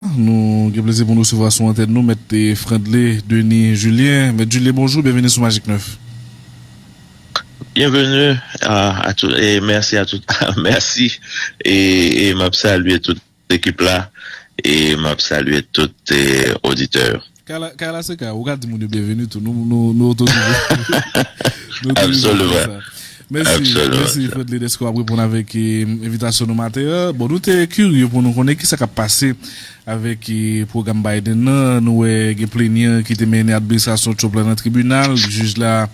Nou gen plezi pou n resevwa sou antèn nou Mèt Frandly Denis Julien. Mèt Julien bonjou, byenveni sou Magik 9. Byenveni a tout e mèsi a tout mèsi e m ap salye tout ekip la e m ap salye tout oditè yo. Kay la se kay ou, ou ka di moun yo byenveni tou, nou otorize. Absolument. Mèsi, mèsi Fredly dèske w ap reponn avèk envitasyon nou maten an. Bon, nou te kirye pou nou konnen ki sa k ap pase avèk pwogram Biden nan. Nou wè gen plenyan ki te mennen administrasyon Trump la nan tribinal. Jij la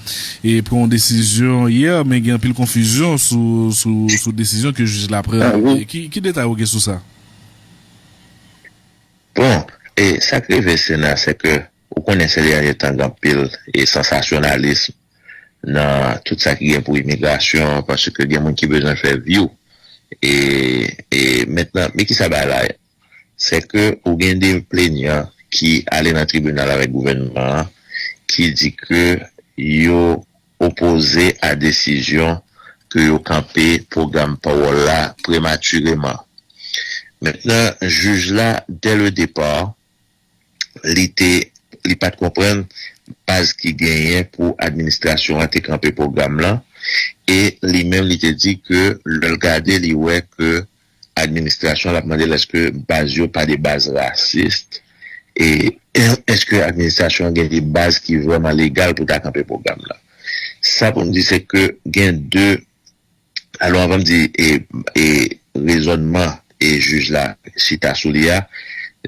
pran yon desizyon yè, men gen anpil konfizyon sou desizyon ke jij la pran. Ki detay ou gen sou sa? Bon, e sak rive Sena se ke ou konnen se dènye tan gen anpil e sansasyonalism nan tout sa ki gen pou imigrasyon paske gen moun ki bezwen fè vyou e e mentnan men kisa bagay la ye se ke ou gen de plenyan ki ale nan tribinal avèk gouvènman an ki di ke yo opoze a desizyon ke yo kanpe pwogram pawòl la prematireman. Mentnan jij la dè le depar li te li pat konprann baz ki genyen pou administrasyon an te kanpe pwogram lan e li menm li te di ke lè l gade li wè ke administrasyon lap mande l eske baz yo pa de baz rasist e eske administrasyon an gen de baz ki vrèman legal pou ta kanpe pwogram la. Sa pou m di se ke gen de alò anvan m di e rezònman e jij la chita sou li a,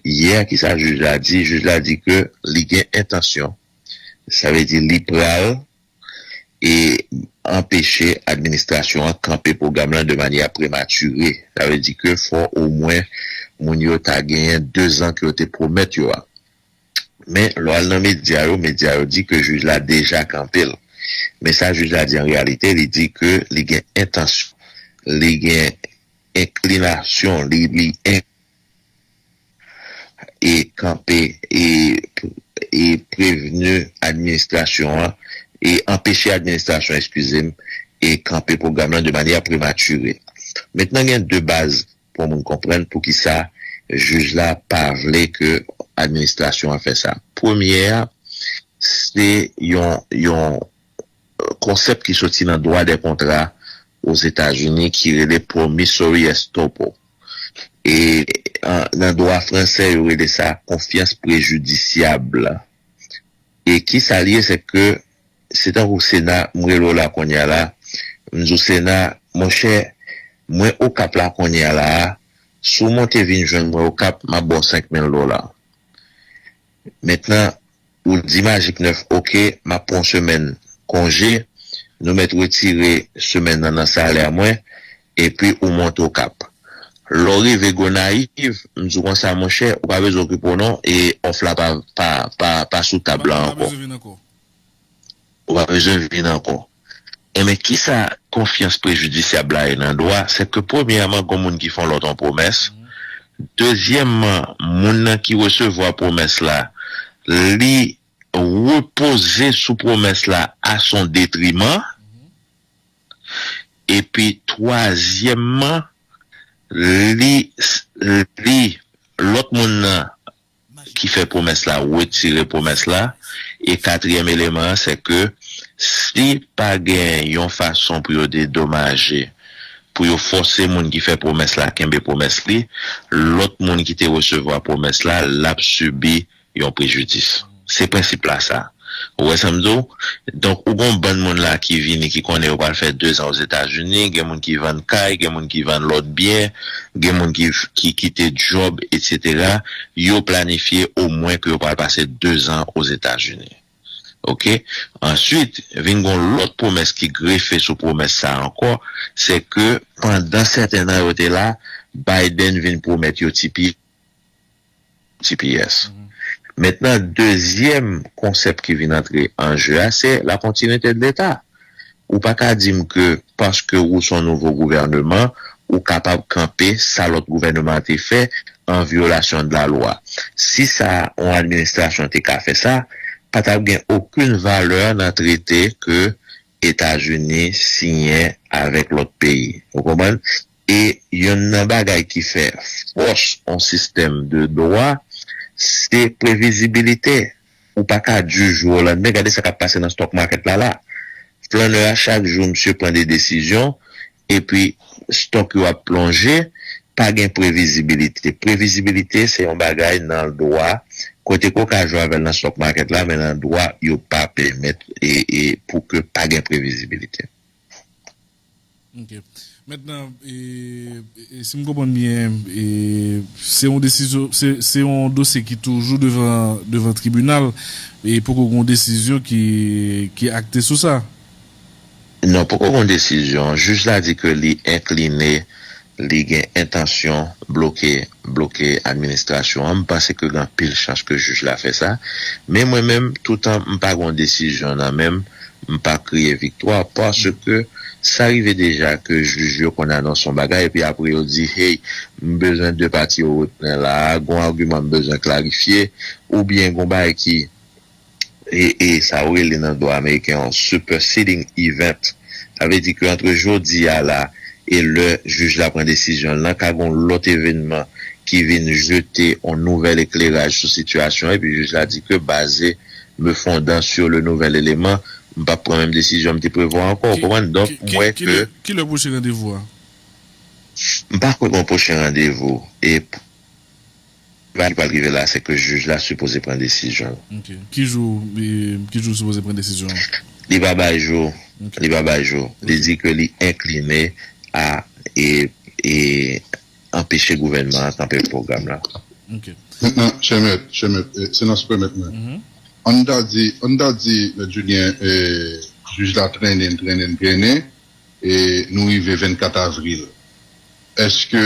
yè ki sa jij la di, jij la di ke li gen entansyon sa vle di li pral. e anpeche administrasyon an kanpe pwogram lan de manyè premature. Sa vle di ke fò omwen moun yo ta genyen dezan ke yo te pwomèt yo a. Men, lè w al nan medya yo, medya yo di ke jij la deja kanpe l. Men sa jij la di an reyalite, li di ke li gen entansyon, li gen enklinasyon, li. e kanpe e prevni administrasyon an e anpeche administrasyon eskize m e kanpe pwogram lan de manyè prematire. Mentnan gen de baz pou moun konprann poukisa jij la pa vle ke administrasyon an fè sa. Premyè a se yon yon konsèp ki soti nan dwa dè kontra Ozetazini ki rele promissory estoppel. e nan dwa fransè yo rele sa confiance préjudiciable e kisa li ye se ke se tankou sena m rele w la kounye a la m di w sena monchè mwen okap la kounye a la a si w monte vin jwenn mwen okap m ap ba w 5 mil dola Mentnan ou di majik 9 ok map pran yon semèn konje nou mèt retire semèn nan nan salè mwen epi ou monte okap lèw rive gonayiv m diw konsa monchè ou pa bezwen okipe w non e òf la pa pa pa sou tab la ankò. Ou pa bezwen vin ankò. Enben, ki sa konfyans prejidisyab la ye nan dwa? Sèke premyèman, gon moun ki fè yon lòt yon pwomès. Dezyèmman, moun nan ki resevwa pwomès la, li repoze sou pwomès la a son detriman. Epi twazyèmman, li, li, lòt moun nan ki fè pwomès la retire pwomès la e katriyèm eleman an se ke si pa gen yon fason pou yo dedomaje pou yo fòse moun ki fè pwomès la kenbe pwomès li lòt moun ki te resevwa pwomès la l ap sibi yon prejidis se prensip la sa a. Ou wè sa m di w? Donk ou gen yon bann moun la ki vini ki konnen yo pral fè dezan Ozetazini, gen moun ki vann kay, gen moun ki vann lòt byen, gen moun ki ki kite djòb etsetera, yo planifye omwen ke yo pral pase dezan Ozetazini. Ok? Answit, vin gen yon lòt pwomès ki grefe sou pwomès sa ankò, se ke pandan sèten nan yo te la, Biden vin pwomèt yo ti pye, GPS. Mentnan dezyèm konsèp ki vin antre an je a se la kontinuite de leta. Ou pa ka di m ke paske ou son nouvo gouvèneman ou kapab kanpe sa lòt gouvèneman an te fè an vyolasyon de la lwa. Si sa yon administrasyon te ka fè sa, pa t ap gen okenn valè nan trete ke Etazini siyen avèk lòt peyi. Ou konprann? E yonn nan bagay ki fè fòs yon sistèm de dwa, se previzibilite. Ou pa ka di jou o landemen, gade sa k ap pase nan stock market la la. Flanneur a chak jou misye pran de desizyon epi stock yo ap plonje, pa gen previzibilite. Previzibilite se yon bagay nan dwa, kote ke w ka jwe avè l nan stock market la, men nan dwa yo pa pèmèt pou ke pa gen previzibilite. Ok. Mentnan, si m konprann byen, se yon desizyon, se yon dosye ki toujou devan tribinal, e poko gen yon desizyon ki akte sou sa? Non, poko gon desizyon. Jij la di ke li enkline, li gen entansyon bloke bloke administrasyon an. M panse ke gen anpil chans ke jij la fè sa. Men mwen menm, toutan m pa gon desizyon nan men m, m pa kriye viktwa paske sa rive deja ke jij yo konn anonse yon bagay epi apre yo di, hey, m bezwen 2 pati yo repran la a, gon agiman m bezwen klarifye oubyen gon bagay ki. e e sa yo rele nan dwa ameriken yon superseding event, sa vle di ke antre jodi a la e lè jij la pran desizyon l lan ka gen yon lòt evenman ki vin jete yon nouvèl ekleraj sou sitiyasyon an epi jij la di ke baze me fondant sur le nouvel élément m p ap pran menm desizyon m te prevwa ankò, ou konprann? Donk m wè ke. Ki lè pwochen randevou a? M pa kwè gen yon pwochen randevou e. Sa ki pral rive la se ke jij la sipoze pran desizyon l. Ok. Ki jou ki jou l sipoze pran desizyon an? Li pa bay jou. Ok. Li pa bay jou. Ok. Li di ke li enkline a e e anpeche gouvènman an kanpe pwogram la. Ok. Mentnan, chè mèt, chè mèt, e se nan siprè mèt mwen. Mh. An n ta di, an n ta di mèt Julien e jij la trennen, trennen, trennen e nou rive 24 avril. Èske.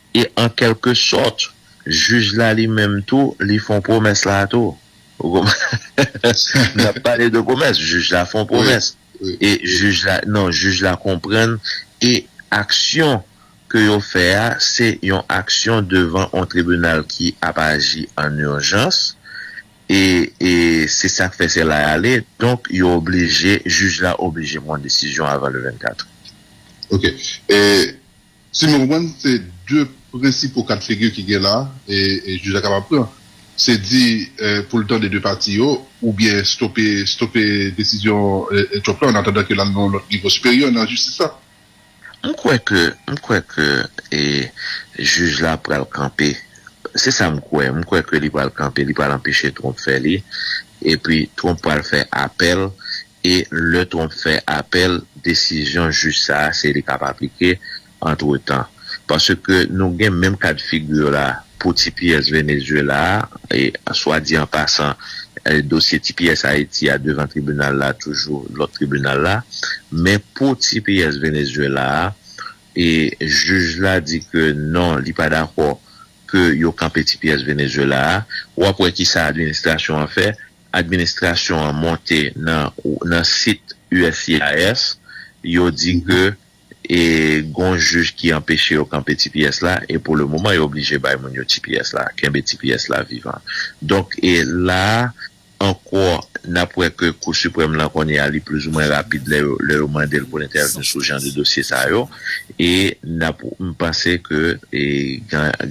E an kèlke sòt, jij la li menm tou, li fon pwomès la tou. Ou konprann? N ap pale de pwomès. Jij la fon pwomès. E jij la, non, jij la konprann e aksyon ke yo fè a, se yon aksyon devan yon tribinal ki ap aji an urjans. E se sa k fè se la y ale. Donk, yo oblije, jij la oblije pran desizyon avan le 24. Ok. E Si mwen konprann, se 2 prensipo ka de figi ki gen la e jij la kapab pran. Se di pou l tande 2 pati yo oubyen stope stope desizyon Trump la annatandan ke l al nan yon lòt nivo siperyè nan jistis la. M kwè ke, m kwè ke e jij la pral kanpe. Se sa m kwè. M kwè ke li pral kanpe, li pral anpeche Trump fè li. Epi Trump pral fè apèl E lè Trump fè apèl, desizyon jij sa a se li k ap aplike antretan. Paske nou gen menm ka de figure la pou tps Venezuela a, e swa di an pasan dosye tps Ayiti a devan tribinal la toujou lòt tribinal la. Men pou tps Venezuela a, e jij la di ke non li pa dakò ke yo kanpe tps Venezuela a. Ou ap wè kisa administrasyon an fè, administrasyon an monte nan sit uscis yo di ke gon jij ki anpeche yo kanpe tps la e pou le moman yo oblije bay moun yo tps la, kenbe tps la vivan. Donk la a ankò nap wè ke kou siprèm lan kounye a li plizoumwen rapid lè yo mande l pou l entèvni sou jan de dosye sa yo e nap m panse ke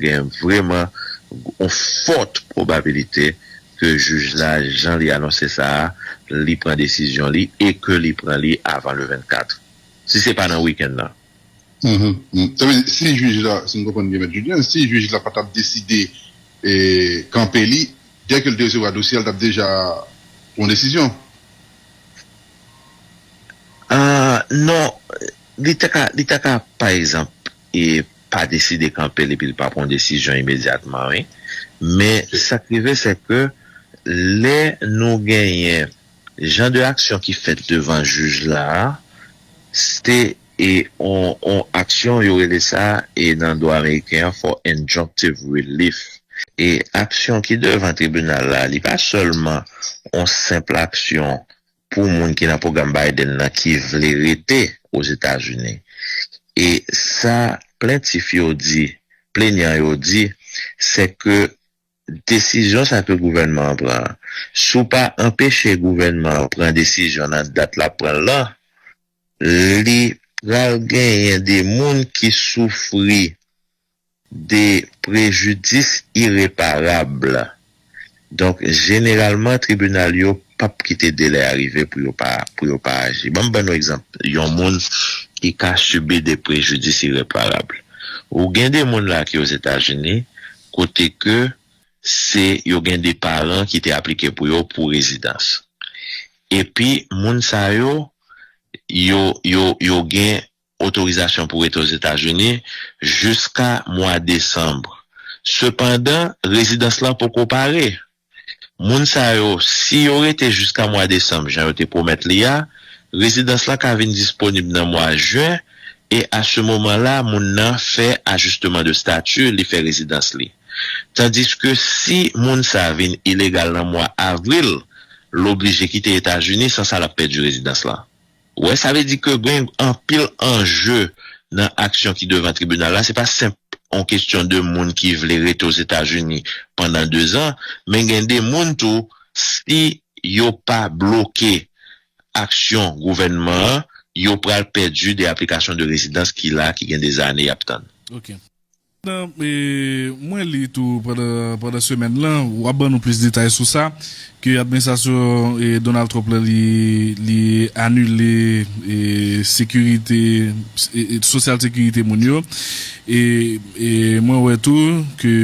gen vreman on fòt pwobabilite ke jij la jan li anonse sa a, li pran desizyon li e ke li pran li avan le 24. Si se pa nan wikenn nan. Sa vle di si jij la, si m konprann byen Mèt Julien, si jij la pa tap deside kanpe li, dè ke l te resevwa dosye a, l tap deja pran yon desizyon? Non, li ta ka, li ta ka pa egzanp. e pa deside kanpe l epi l pa pran yon desizyon imedyatman wi. Men sa k rive se ke lè nou genyen jan de aksyon ki fèt devan jij la a, se yon aksyon yo rele sa nan dwa ameriken an for injunctive relief. E aksyon ki devan tribinal la li pa sèlman yon senpl aksyon pou moun ki nan pwogram Biden nan ki vle rete Ozetazini. E sa plentif yo di, plenyan yo di, se ke desizyon sa ke gouvènman an pran an, si w pa anpeche gouvènman an pran desizyon nan dat l ap pran l lan, li pral genyen de moun ki soufri. de prejidis ireparab. Donk, jeneralman, tribinal yo p ap kite delè a rive pou yo pa pou yo pa aji. Ban m ban nou egzanp yon moun ki ka sibi de prejidis ireparab. Ou gen de moun la ki Ozetazini kote ke se yo gen de paran ki te aplike pou yo pou rezidans. Epi, moun sa yo, yo yo yo gen otorizasyon pou rete Ozetazini jiska mwa desanm. Sepandan, rezidans lan poko pare. Moun sa yo, si yo rete jiska mwa desanm jan yo te pwomèt li a, rezidans lan ka vin disponib nan mwa jen e a se moman la moun nan fè ajisteman de stati li fè rezidans li. Tandiske si moun sa vin ilegal nan mwa avril, l oblije kite Etazini san sa l ap pèdi rezidans lan. Wè sa vle di ke gen anpil anje nan aksyon ki devan tribinal la, se pa senp yon kestyon de moun ki vle rete Ozetazini pandan dezan, men gen de moun tou si yo pa bloke aksyon gouvènman an, yo pral pèdi de aplikasyon de rezidans ki la ki gen de zane y ap tann. Mwen li tou pandan semèn lan, w ap ban nou plis detay sou sa, ke administrasyon Donald Trump lan li anile sekirite, sosyal sekirite moun yo. E mwen wè tou ke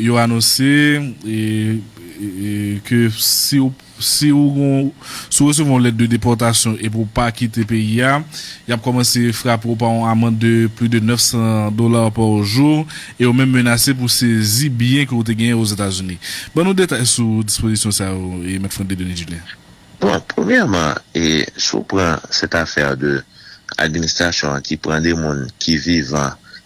yo anonse ke si w. Si ou gon, si ou resevwa yon lèt de depòtasyon epi ou pa kite peyi a, y ap kòmanse frape ou pa yon amand de plis de 900 dollars par jour e yo menm menase pou sezi byen ke ou te genyen Ozetazini. Ban nou detay sou dispozisyon sa yo, Mèt Franck Denis Julien. Bon, premyèman, e si ou pran cette affaire de administration an ki pran de moun ki vivan,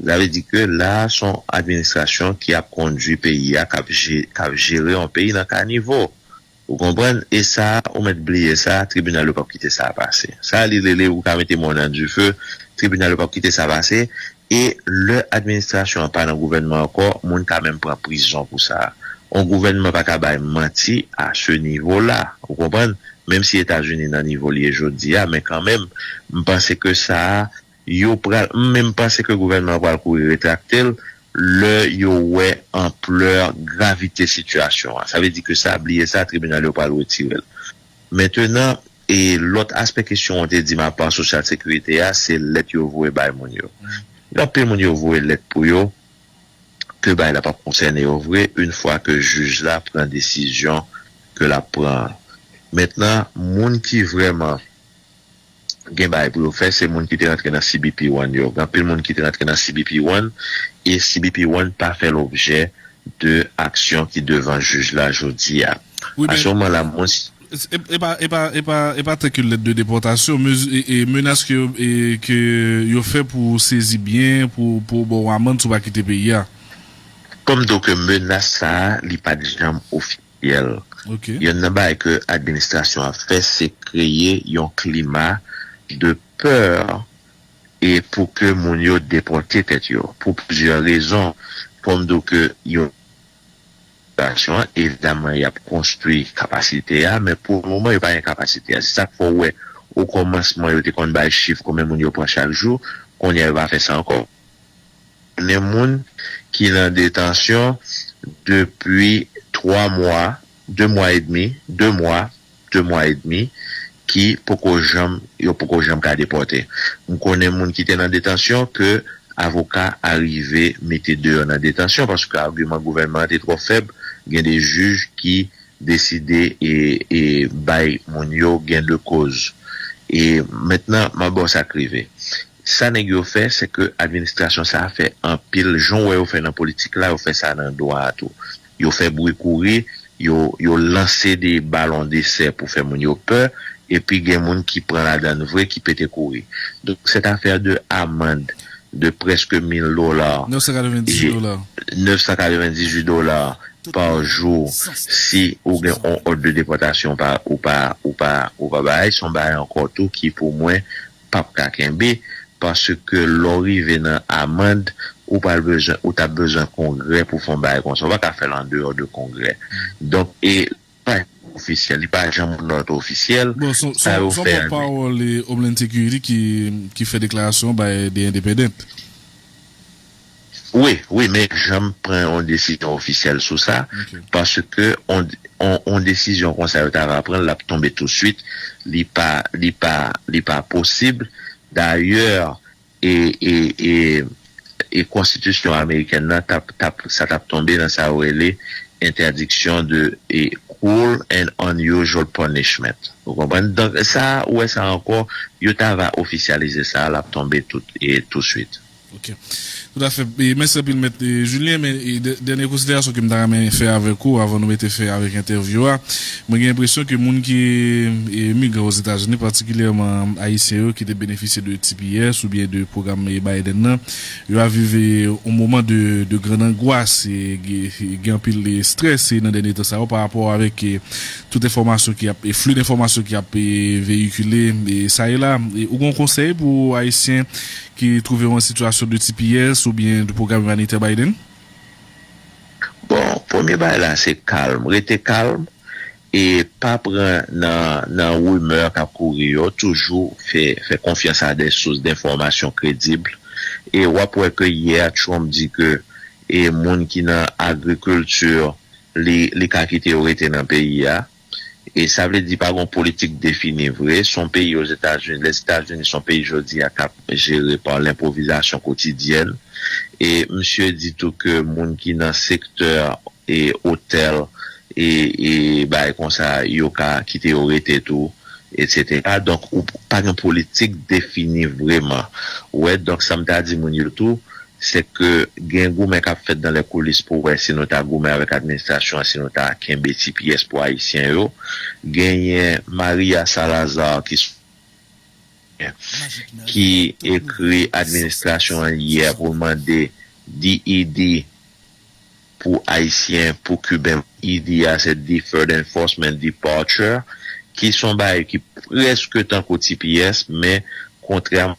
Sa vle di ke la a son administrasyon ki ap kondwi peyi a, kap je, kap jere yon peyi nan kanivo. Ou konprann? E sa a, ou mèt bliye sa, tribinal yo pap kite sa a pase. Sa li rele ou ka mete mòn nan dife, tribinal yo pap kite sa pase. E lè administrasyon an pa nan gouvènman ankò, moun ka menm pran prizon pou sa. On gouvènman pa ka bay manti a se nivo la. Ou konprann? Menm si Etazini nan nivo li ye jodi a, men kanmenm, m panse ke sa a, Yo pral m menm panse ke gouvènman an pral kouri retrakte l lè yo wè anplè gravite sitiyasyon an. Sa vle di ke sa bliye sa tribinal yo pral retire l. Mentenan e lòt aspè kesyon w te di m apa sosyal sekirite a se lèt yo voye bay moun yo. Gen anpil moun yo voye lèt pou yo ke bagay la p ap konsène yo vre in fwa ke jij la pran desizyon ke l ap pran an. Mentnan moun ki vrèman. gen bagay pou yo fè se moun ki te rantre nan cbp one yo gen anpil moun ki te rantre nan cbp one e cbp one pa fè lobjè de aksyon ki devan jij la jodi a a se moman la mwen Epa epa epa epa tank yon lèt de depòtasyon mezi e menas ke e ke yo fè pou ou sezi byen pou pou yo ba w amann si w pa kite peyi a. Kòm do ke menas sa a li pat janm ofi. Yèl. Yonn nan bagay ke administrasyon ap fè se kreye yon klima de peur e pou ke moun yo depòte tèt yo pou plizyè rezon. Fòm di w ke yo administrasyon an evidaman yap konstwi kapasite a men pou moman yo pa gen kapasite a se sak fè w wè o kòmansman yo te konn bay chif konbyen moun yo pran chak jou kounye a yo pa fè sa ankò. Konnen moun ki nan detansyon depi 3 mwa, 2 mwa edmi, 2 mwa, 2 mwa edmi, ki poko janm, yo poko janm ka depòte. M konnen moun ki te nan detansyon ke avoka arive mete deyò nan detansyon paske agiman gouvènman an te twò fèb, gen de jij ki deside e bay moun yo gen de koz. E mentnan m ap ba w sa k rive. Sa nèg yo fè se ke administrasyon sa fè anpil jan w wè yo fè nan politik la yo fè sa nan dwa a tou. Yo fè bri kouri, yo yo lanse de balon desè pou fè moun yo pè epi gen moun ki pran ladan l vre ki pete kouri. Donk cette affaire de amande de presque 1000 dollars, 998 j'ai dollars. 998 dollars par jour si ou gen yon òd de depòtasyon ou pa ou pa ou pa bay son bagay ankò tou ki pou mwen pap ka kenbe paske lè w rive nan amand ou pral bezwen ou tap bezwen kongrè pou fè yon bagay konsa ou pa ka fèl andeyò de kongrè donk e pa janm ofisyèl li pa janm not ofisyèl Bon sa yo son fè an pòt pawòl Homeland Security ki fè deklarasyon bay The Independent. Wi, wi men janm pran yon desizyon ofisyèl sou sa, paske yon desizyon konsa yo ta va pran l ap tonbe touswit, li pa, li pa, li pa posib, dayè e, e, e, e konstitisyon amerikèn nan t ap, t ap, sa t ap tonbe nan sa yo rele entèdiksyon de e cruel and unusual punishment ou konprann, donk sa ou wè sa ankò yo ta va ofisyalize sa l ap tonbe tout e touswit. Ok. Tout afè. Mèsi anpil mèt Julien men dènye konsiderasyon ke m ta renmen fè avèk ou avan nou mete fen avèk entèvyou a. Mwen gen enpresyon ke moun ki emigre Ozetazini patikilyèman ayisyen yo ki te benefisye de tps oubyen de pwogram Biden nan yo ap viv yon moman de grand angwas e gen anpil strès nan dènye tan sa yo parapò avèk tout enfòmasyon ki ap flux denfòmasyon ki ap veyikile sa e la. Ou gen yon konsèy pou ayisyen Ki twouve yo an sitiyasyon de tps oubyen de pwogram imanitè Biden? Bon, premye bagay la se kalm, rete kalm e pa pran nan nan rimè kap kouri yo, toujou fè fè konfyans a de sous denfòmasyon kredib e wap wè ke yè Trump di ke e moun ki nan agrikilti li li ka kite yo rete nan peyi a. E sa vle di pa gon politik defini vre. S on peyi Ozetazini, Lèzetazini s on peyi jodi a k ap jere pa lenpwovizasyon kotidyèn. E msye di tou ke moun ki nan sektè e otèl e e bagay konsa yo ka kite yo rete tou etsetera. Donk ou pa gen politik defini vreman. Ou wè? Donk sa m ta di moun yo tou, Se ke gen goumen kap fèt dan lè koulis pou wè si nou ta goumen avèk administrasyon an si nou ta kenbe ti pyès pou ayisyen yo. Genyen Maria Salazar ki sou ki ekri administrasyon an yè pou l mande DED pou ayisyen pou kiben ED a se Deferred Enforcement Departure ki son bagay ki prèske tankou ti pyès men kontrèman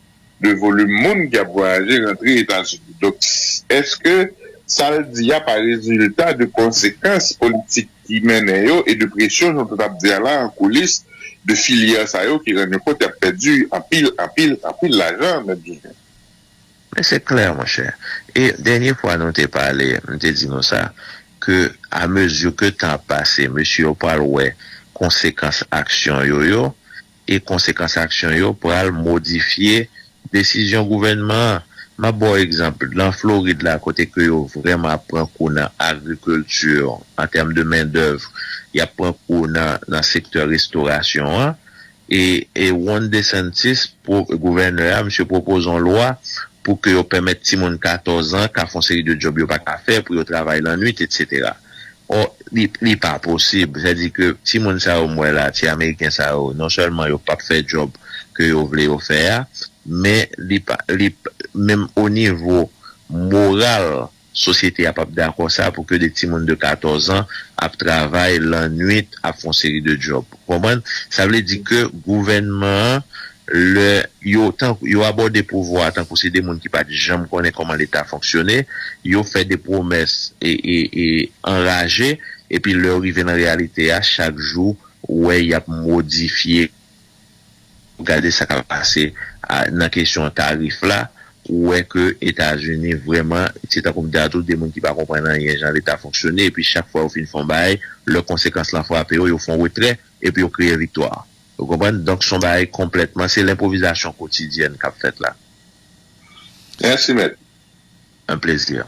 de volim moun ki ap vwayaje rantre Etazini. Donk, èske sa l di a pa rezilta de konsekans politik ki mennen yo e de presyon, jan w te t ap di a la, an koulis de filyè sa yo ki rann yo kont y ap pèdi anpil, anpil, anpil lajan, mèt Joseph? Men se klè, monchè, e dènye fwa nou te pale, m te di nou sa, ke a mezi ke tan ap pase, mesye yo pral wè konsekans aksyon yo yo, e konsekans aksyon yo pral modifye desizyon gouvènman an. M ap ba w egzanp, lan Florid la kote ke yo vrèman ap pran kou nan agrikilti an tèm de mendèv, y ap pran kou nan nan sektè restorasyon an, e e Ron DeSantis, pro, gouvènè a, misye pwopoze yon lwa pou ke yo pèmèt timoun 14 an ka fè yon seri de djòb yo pa ka fè, pou yo travay lannuit, etsetera. Oh li pa posib, sa di ke ti moun sa yo m wè la, ti ameriken sa yo, non sèlman yo pap fè djòb ke yo vle yo fè a, men li pa, li, menm o nivo moral sosyete a pap dakò sa pou ke de ti moun de 14 an ap travay lannwit ap fon seri de djòb. Ou konprann? Sa vle di ke gouvènman an Lè yo tankou yo abòde pouvwa a tankou se de moun ki pa t janm konnen kòman Leta fonksyone, yo fè de pwomès anraje epi lè yo rive nan reyalite a chak jou ou wè y ap modifye. Gade sa k ap pase nan kesyon tarif la, ou wè ke Etazini vrèman se tankou m di a tou de moun ki pa konprann anyen jan Leta fonksyone epi chak fwa yo fin fè yon bagay lè konsekans lan frape yo, yo fè yon retrè epi yo kreye viktwa. Ou konprann? Donk s on bagay konplètman, se lenpwovizasyon kotidyèn k ap fèt la. Mèsi mèt. Un plaisir.